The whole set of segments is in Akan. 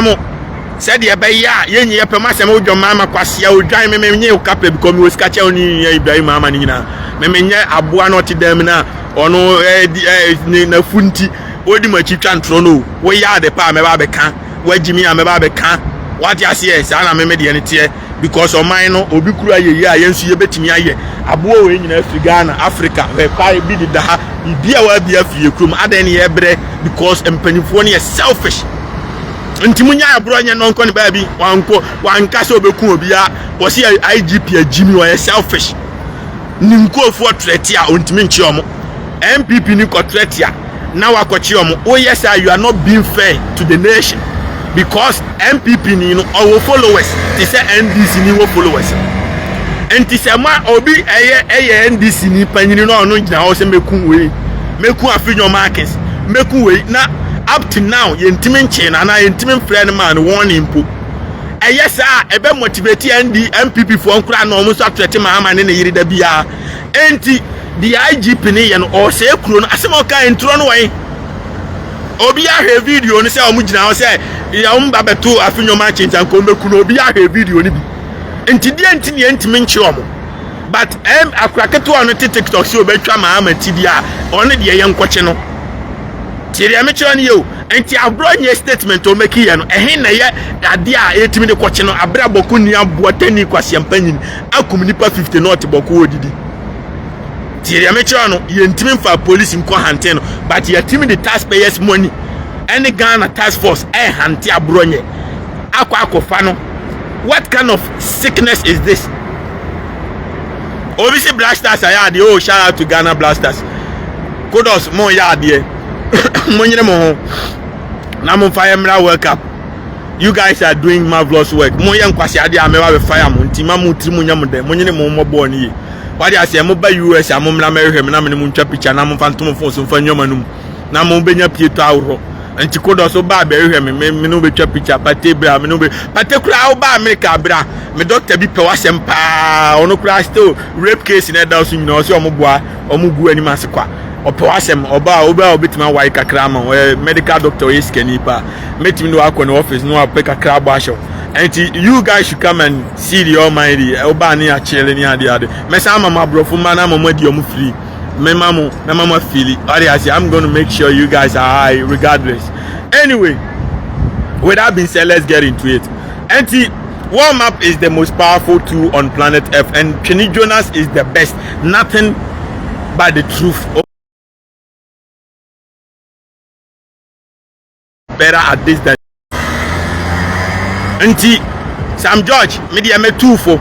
mo sɛdeɛ ɛbɛyɛ a yɛnyi yɛpɛ mu asɛm wodwa maa ma kwasea odwan me menyɛ oka pɛ bikɔ mewɔ sika kyɛ wo ne nyia ibrahim ama no nyinaa me menyɛ aboa no ɔte dan mu no a ɔno ne nafu nti wodi m'akyi twa ntorɔ no o woyɛ ade pa a mɛba abɛka woagyi me a mɛba abɛka wate aseɛ saa na meme deɛ no teɛ because ɔman no obi kura yɛyɛ a yɛn nso yɛbɛtumi ayɛ aboa wei nyinaa firi ghana africa hwɛkwae bi deda ha biribi a wɔabi afiri yɛ kurom adɛn ne yɛbrɛ because mpanimfoɔ no yɛ selfish nti mu nya aborɔ nyɛ nɔnkɔ ne baabi wankɔ wanka sɛ ɔbɛku obiara wɔsi igp agyimi wɔyɛ selfish ne nkurɔfoɔ trɛte a ɔntumi nkye ɔmo NPP ni kɔtrɛ tia na wakɔkye ɔmo woyɛ saa you are not being fair to the nation because NPP ni no ɔwɔ followers te sɛ NDC ni wɔ followers nti sɛ ma obi ɛyɛ ɛyɛ NDC ni panyini na ɔno gyina hɔ sɛ meku wei meku afi nyɔma akins meku wei na up to now yɛntumi nkyee no anaa yɛntumi mfrɛ no maa no wɔn ne mpo ɛyɛ saa ɛbɛ motivate ND NPP foɔ nkora na ɔmo nso atrɛte ma ama ne ne yere da biara Enti deɛ IGP no yɛ no ɔresɛe kuro no asɛm a ɔkaeɛ ntorɔ no wɔ he? Obiara hwɛ video no sɛ wɔn gyina hɔ sɛ yɛ wɔn ba bɛto afe nnwom akye nti anka wɔn bɛku no obiara hwɛ video no bi nti deɛ nti ne yɛntumi nkye wɔn but ɛm akora ketewa no te tiktok sɛ obɛtwa maa ama ti bi a ɔne deɛ yɛ nkɔkye no tie deɛ mekyerɛ no yɛ o nti aborɔ nyɛ statement wɔn bɛki yɛ no ɛhe na yɛ adeɛ a yɛtumi de kɔkye no abrɛ abɔko ni aboa tani kwasiampa nyini akum nipa 50 na ɔte bɔko odidi tie deɛ mekyerɛ no yɛntimi mfa polisi nkɔ hante no but yɛtimi de taxpayers money ɛne ghana task force ɛhante aborɔ nyɛ akɔ akɔfa no what kind of sickness is this obi si blasters ayɛ adeɛ oh shout out to ghana blasters kudos mo yɛ adeɛ mo nyere mo ho na mo fa yɛ mmra world cup You guys are doing marvelous work. Mo yɛ nkwasi ade a mɛba bɛ fire mo nti ma mo tiri mu nyɛ mo dɛ mo nyene mo mmɔ bɔɔl no yie. Wade aseɛ mo ba US a mo mmra mɛhwehwɛ me na me ne mo ntwa picture na mo mfa nto mo phone so mfa nneɛma no mu na mo bɛnya pie to ahoroɔ. Nti kodɔ so baa bɛhwehwɛ me me ne wo bɛtwa picture pate bra me ne wo bɛ pate koraa wo baa America bra me doctor bi pɛ w'asɛm paa ɔno koraa still rape case na ɛda so nyina ɔsɛ ɔmo boa ɔmo gu anim ase kwa Ɔpɛ w'asɛm, ɔbaa a, obi a obetumi awae kakra ama wo, ɔyɛ medical doctor, ɔyɛ sikani pa, mɛtumi de wakɔ ne office na wapɛ kakra abɔ ahyɛ wo. Ɛnti you guys should come and see the almighty, ɔbaa ne akyele ne ade ade. Mɛsan ama mo aborɔfo mma na ama mo adi ɔmo free. Mɛma mo na ma mo afili. Ɔde ase, I'm going to make sure you guys are high regardless. Anyway, with that being said, let's get into it. Ɛnti. Warm up is the most powerful tool on planet earth and Twene Jonas is the best. Nothing but the truth. Better at this than nti Sam George me deɛ mɛtu fo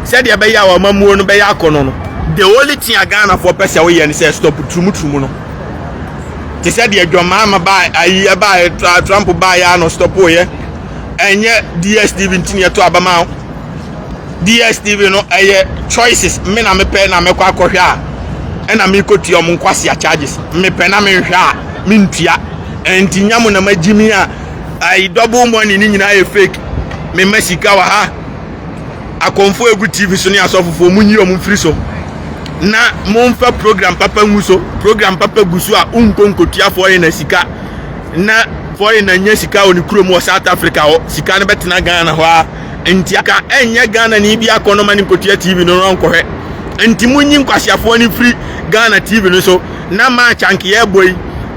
sɛdeɛ ɛbɛyɛ a wɔn amuo no bɛyɛ akɔnɔ no the only thing a Ghanafoɔ pɛ sɛ woyɛ no sɛ stop turumuturumu no te sɛ deɛ dwamaa ma baa ayi ɛbaa Trump baa yɛ a no stop yɛ. ɛnyɛ dstv nti na yɛto aba ma wo dstv no ɛyɛ choices me na mepɛ na mɛkɔ akɔhwɛ a ɛna mekɔtua ɔmo nkwasea charges mepɛ na menhwɛ a mentua ɛnti nya mo na magyi me a ayi double money ne nyinaa yɛ fake mema sika wɔ ha akɔmfo egu tv so ne asɔfofoɔ monyi ɔmo mfiri so na momfa program papa ngu so program papa gu so a wonkɔ nkɔtua foɔ yɛ na sika Ná Foreigner nnya sika wɔ ne kurom wɔ South Africa hɔ. Sika no bɛtena Ghana hɔ ara. Enti anka ɛnyɛ Ghanani bi akɔ no ma no nkɔtua TV no na ɔnkɔhwɛ. Enti monyi nkwaseafoɔ no mfiri Ghana TV no so. Ná match anka yɛrebɔ yi,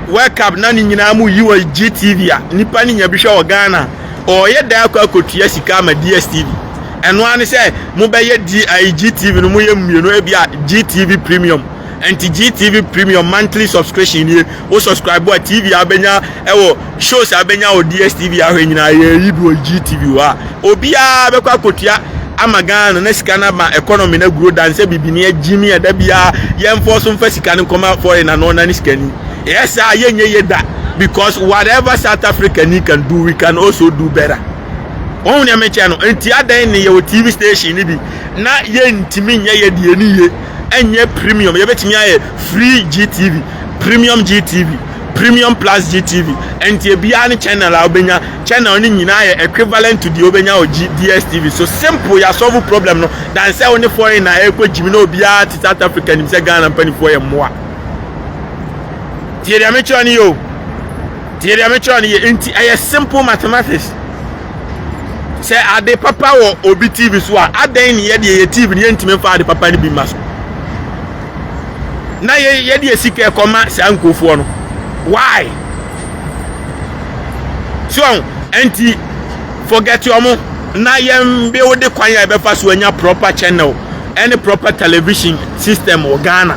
World Cup, ná ne nyinaa moyi wɔ GTV a nnipa no nya bi hwɛ wɔ Ghana a, ɔreyɛ dɛn akɔ akɔtua sika ama DSTV? Ɛno ara ne sɛ mobɛyɛ DI, GTV no moyɛ mmienu, ebia GTV Premium. Ɛnti GTV premium monthly subscription nie, wo subscribe a TV a wobɛnya ɛwɔ shows a wobɛnya wɔ DSTV ahwɛ nyinaa yɛyi bi wɔ GTV hɔ a obiara bɛkɔ akɔtua ama Ghana no na sika no ama economy no aguro dan sɛ bibini agyimi ɛda biara yɛmfɔ so mfa sika no nkɔma foreign na no ɔnane sika ni ɛyɛ saa yɛnyɛ yɛ da because whatever South Africa ni can do we can also do better wɔn nea mekyɛ no nti adɛn ne yɛwɔ TV station no bi na yɛntumi nyɛ yɛ deɛ ni yie ɛnyɛ premium yɛbɛtumi ayɛ free gtv premium gtv premium plus gtv ɛnti ebiara ne channel a wobɛnya channel no nyinaa yɛ equivalent to deɛ wobɛnya wɔ dstv so simple yɛasɔvo problem no dan sɛ wo ne foreign na ɛrekɔ gyimi na obiara te south africa nim sɛ ghana mpanimfoɔ yɛ mmoa tie deɛ mekyerɛ no yɛ o tie deɛ mekyerɛ no yɛ nti ɛyɛ simple mathematics sɛ ade papa wɔ obi tv so a adɛn ne yɛde yɛyɛ tv no yɛntumi mfa ade papa no bi mma so na yɛde yɛ sika ɛkɔma saa nkurɔfoɔ no why so ɛnti forget ɔmo na yɛn build kwan a yɛbɛfa so anya proper channel ɛne proper television system wɔ ghana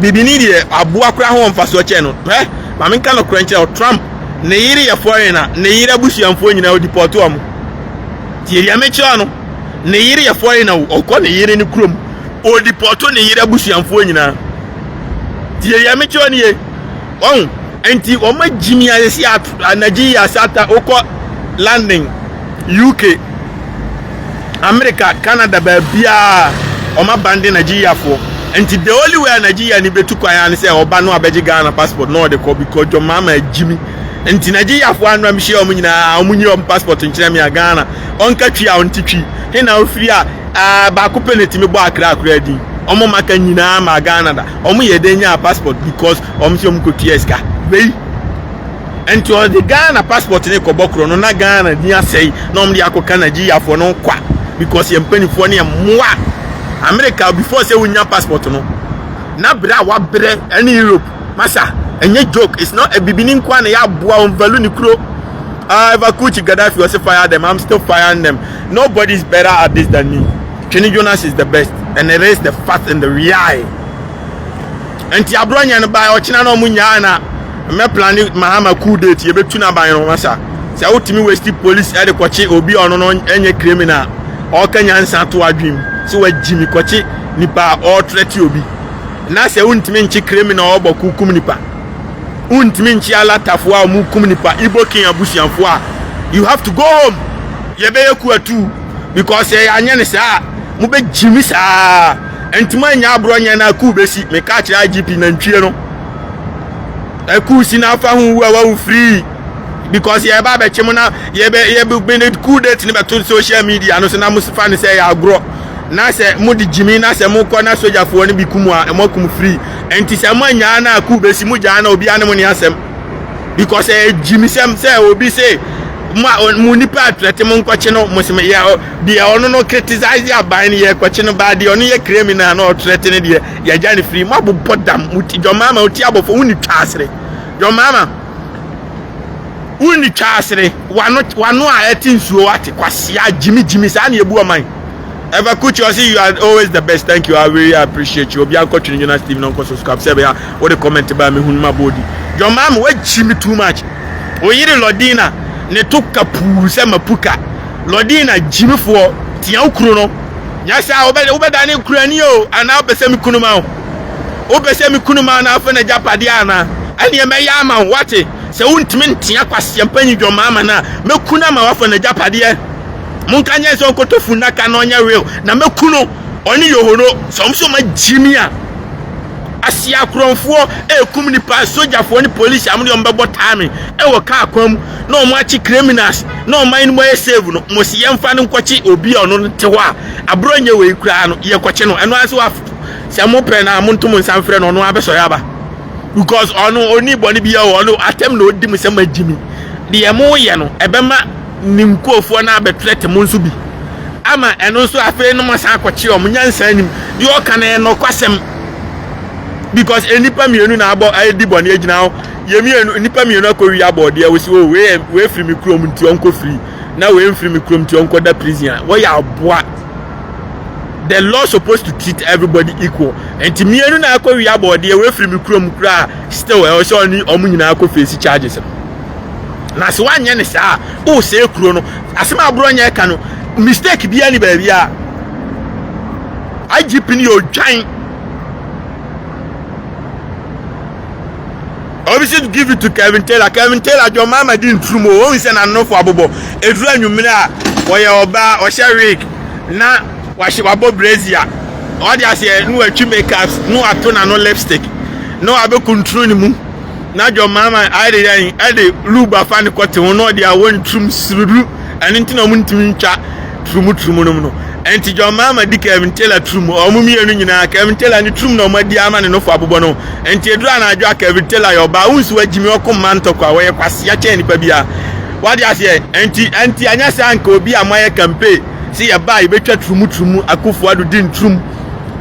bibini deɛ aboa koraa ho wɔ mfasoɔ kyɛn no hwɛ ma menka nokorɛ nkyerɛ wo trump ne yere yɛ foreign a ne yere abusuamfoɔ nyinaa ɔdipɔto ɔmo tie deɛ mekyerɛ no ne yere yɛ foreign a ɔkɔ ne yere ne kurom ɔdipɔto ne yere abusuamfoɔ nyinaa tie deɛ mekyerɛ no ye ɔn nti ɔmo agyimi ayɛsi anagye yi asata wokɔ london UK, America, Canada baabiaa wɔn aban de Nigeriafoɔ nti the only way a Nigeria ni bɛtu kwan ne sɛ ɔba no abɛgye Ghana passport na ɔde kɔ because John Mahama agyimi nti Nigeriafoɔ anura mehyia wɔn nyinaa wɔn nyi wɔn passport nkyerɛ me a Ghana ɔnka twi a ɔnte twi he na ofiri a ɛɛ baako pɛ na ɛtumi bɔ akra akora din wɔn maka nyinaa ma Ghana da wɔn yɛ dɛn nyaa passport because wɔn sɛ wɔn kɔtua sika wei nti ɔde ghana passport ne kɔbɔ korɔ no na ghana din asɛe na ɔmde akɔka nigeriafoɔ no kwa because yɛn mpanimfoɔ no yɛ mmoa america before sɛ wonya passport no na berɛ a wabrɛ ɛne europe masa ɛnyɛ joke it's not a bibini nkoa na yɛaboa wɔn value ne kuro uh, if I could Gaddafi was fire them, I'm still firing them. Nobody's better at this than me. Chini Jonas is the best, and it is the fact and the reality. Nti abrɔ nyɛ no bae ɔkyena na ɔmo nyaa na mɛ plane mahama coup date yɛ bɛ tu na ban no ho asa sɛ wo tumi wasti police ɛde kɔkye obi a ɔno no nyɛ criminal ɔɔka nyansa to adwem sɛ wa gyimi kɔkye nipa a ɔɔ threat obi na sɛ wo ntumi nkye criminal ɔɔbɔ ko kum nipa wo ntumi nkye alatafo a ɔmo kum nipa ibo king abusuafo a you have to go home yɛ bɛ yɛ ku atuu because sɛ yɛ anyɛ ne saa a mo bɛ gyimi saa. ntoma nya aborɔ nyɛ no akuu bɛsi meka kyerɛ igp nantwie no akuu si no afa ho wu a wawu firii because yɛba bɛkye mo na yɛbɛbɛne cool date no bɛto social media no so na mofa no sɛ ɛyɛ agorɔ na sɛ mode gyimi na sɛ mokɔ na sogyafoɔ no bi kum a ɛmɔ kum firii ɛnti sɛ mo anyaa no akuu bɛsi mo gyaa na obiara ne mo ne asɛm because ɛyɛ gyimisɛm sɛ obi se mo nipa atrɛte mo nkɔkye no mo se yɛ Deɛ ɔno no criticize aban no yɛ kɔkye no baa deɛ ɔno yɛ criminal na ɔtrɛte no deɛ yɛgya no free mo abobɔ dam mo ti John Mahama ɔti abɔfo wo ni twaasere John Mahama wo ni twaasere wano wano a ɛte nsuo wate kwasia gyimi gyimi saa na yɛbu ɔman Ever Kuchi ɔsi you are always the best thank you I really appreciate you obi ankɔ twene Jonas TV na ɔnkɔ subscribe sɛ bɛyɛ a wode comment baa me hunu ma bɔɔdi John Mahama wagyimi too much oyere Lodina ne to kapuu sɛ mapuka Lɔdina gyimifoɔ, tea wo kunu no. Nyɛ saa, wobɛdane nkurani o, anaa wopɛ sɛ mekunu ma wo? Wopɛ sɛ mekunu ma wo na afa n'agyapadeɛ anaa? Ɛnneɛ mɛyɛ ama wo, woate? Sɛ wontumi ntea kwaseampanyin dwammaa ma no a, mɛku no ama woafa n'agyapadeɛ. Monka nkyerɛ no sɛ ɔnkɔtɔ funnaka na ɔnyɛ will, na mɛku no, ɔne Yohoro. Sɛ wɔn nso wɔn agyimi a, aseakorɔmfoɔ rekum nnipa, sogyafoɔ ne polisi a wɔde wɔn bɛbɔ time wɔ kaa kwan mu. na wɔn akye criminals na ɔman no mu ayɛ save no mo si yɛn fa no nkɔkye obi a ɔno no te hɔ a aburɔ nyɛ wɔ yi koraa no yɛ kɔkye no ɛno ase wafo sɛ mo pɛ na mo ntom nsa mfrɛ no ɔno abɛsɔre aba because ɔno oni bɔ ne bi yɛ ɔno atɛm na odi mu sɛ ma gyimi deɛ mo yɛ no ɛbɛma ne nkurɔfoɔ no abɛtrɛ te mo nso bi ama ɛno nso afei no mo asan akɔkye ɔmo nyansa anim deɛ ɔka no ɛnɔkwasɛm because nnipa mmienu na abɔ adi bɔne agyina hɔ yɛ mmienu nnipa mmienu akɔwi abɔdeɛ wo si o oh, wei yɛ wei firi me kurom nti ɔnkɔ firi na wei mfiri me kurom nti ɔnkɔ da prison a wɔyɛ aboa the law supposed to treat everybody equal nti mmienu na akɔwi abɔdeɛ wei firi me kurom koraa still ɛwɔ sɛ ɔne ɔmo nyinaa akɔ face charges no na sɛ wanyɛ ne saa o oh, sɛ kuro no asɛm aborɔ nyɛ ka no mistake biara ni baabi a igp no yɛ odwan obi should give it to kevin taylor kevin taylor dwom mama di nturum o ohun sɛ n'anofo abobɔ eduru anwummere a wɔyɛ ɔbaa ɔhyɛ wig na wahyɛ wabɔ brazier ɔde aseɛ na watwi makeup na wato n'ano lipstick na wabɛkuntunu ne mu na dwom mama ayɛ de yɛn ɛde lube afa ne kɔte ho na ɔde awɔ nturum sururu ɛno nti na wɔn ntumi ntwa Turumu Turumu nom no. Ɛnti John Mahama di Kevin Taylor Turumu. Wɔn mmienu nyinaa, Kevin Taylor ne Turumu na wɔn adi ama ne nofo abobɔ no ho. Ɛnti ɛduru anadwo a Kevin Taylor yɛ ɔbaa, wonsi wɔ gyimi ɔko mma ntɔkwa, wɔyɛ kwasea kyɛn nipa biara. Wate aseɛ? Ɛnti, ɛnti anyɛ saa anka obi a moayɛ campaign se yɛba a yɛbɛtwa Turumu Turumu, Akufo Addo di nturumu.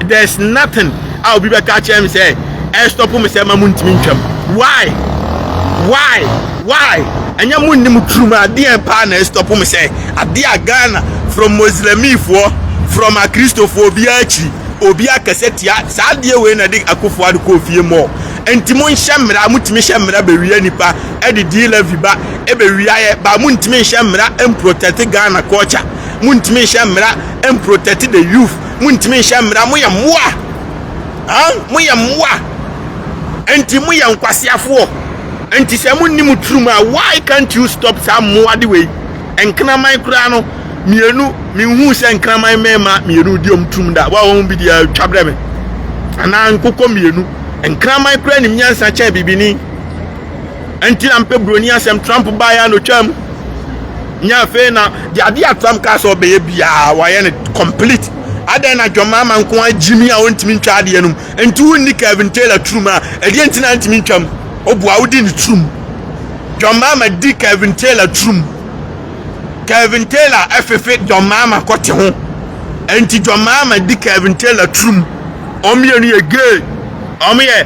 there's nothing a obi bɛka akyerɛ me sɛ ɛstɔpo me sɛ ma mo ntumi ntwam why why why ɛnyɛ mo nni mo turum adeɛ paa na ɛstɔpo me sɛ adeɛ a ghana from muslimifoɔ from akristofoɔ obiara akyiri obi akɛsɛ tia saa adeɛ wei na ɛde akofo ade kɔɔ fie mɔ nti mo nhyɛ mmara motumi hyɛ mmara bɛwia nipa ɛde di levi ba ɛbɛwia yɛ ba mo ntumi nhyɛ mmara mprotect ghana culture mo ntumi nhyɛ mmara mprotect the youth montumi nhyɛ mmara moyɛ mmoa moyɛ mmoa nti moyɛ nkwaseafoɔ nti sɛ monni mo tirim a why can't you stop saa mmoa de wei nkraman koraa no mmienu menhuu sɛ nkraman mmarima mmienu di ɔm tirim da wa wɔn bi deɛ atwa berɛ me anaa nkokɔ mmienu nkraman koraa nim nyansa kyɛn bibini ɛnti na mpɛ buroni asɛm trump baeɛ a na ɔtwa mu nyɛ afei na de adeɛ a trump kaa sɛ ɔbɛyɛ biara wayɛ no complete adɛn na dwama ama nko a gyimi a ɔntumi ntwa adeɛ no mu ɛnti wonni kevin taylor turum a ɛdeɛ nti na ntumi ntwam ɔboa wodi ne turum dwama ama di kevin taylor turum kevin taylor ɛfefe dwama ama kɔte ho ɛnti dwama ama di kevin taylor turum ɔmmienu yɛ gay ɔmo yɛ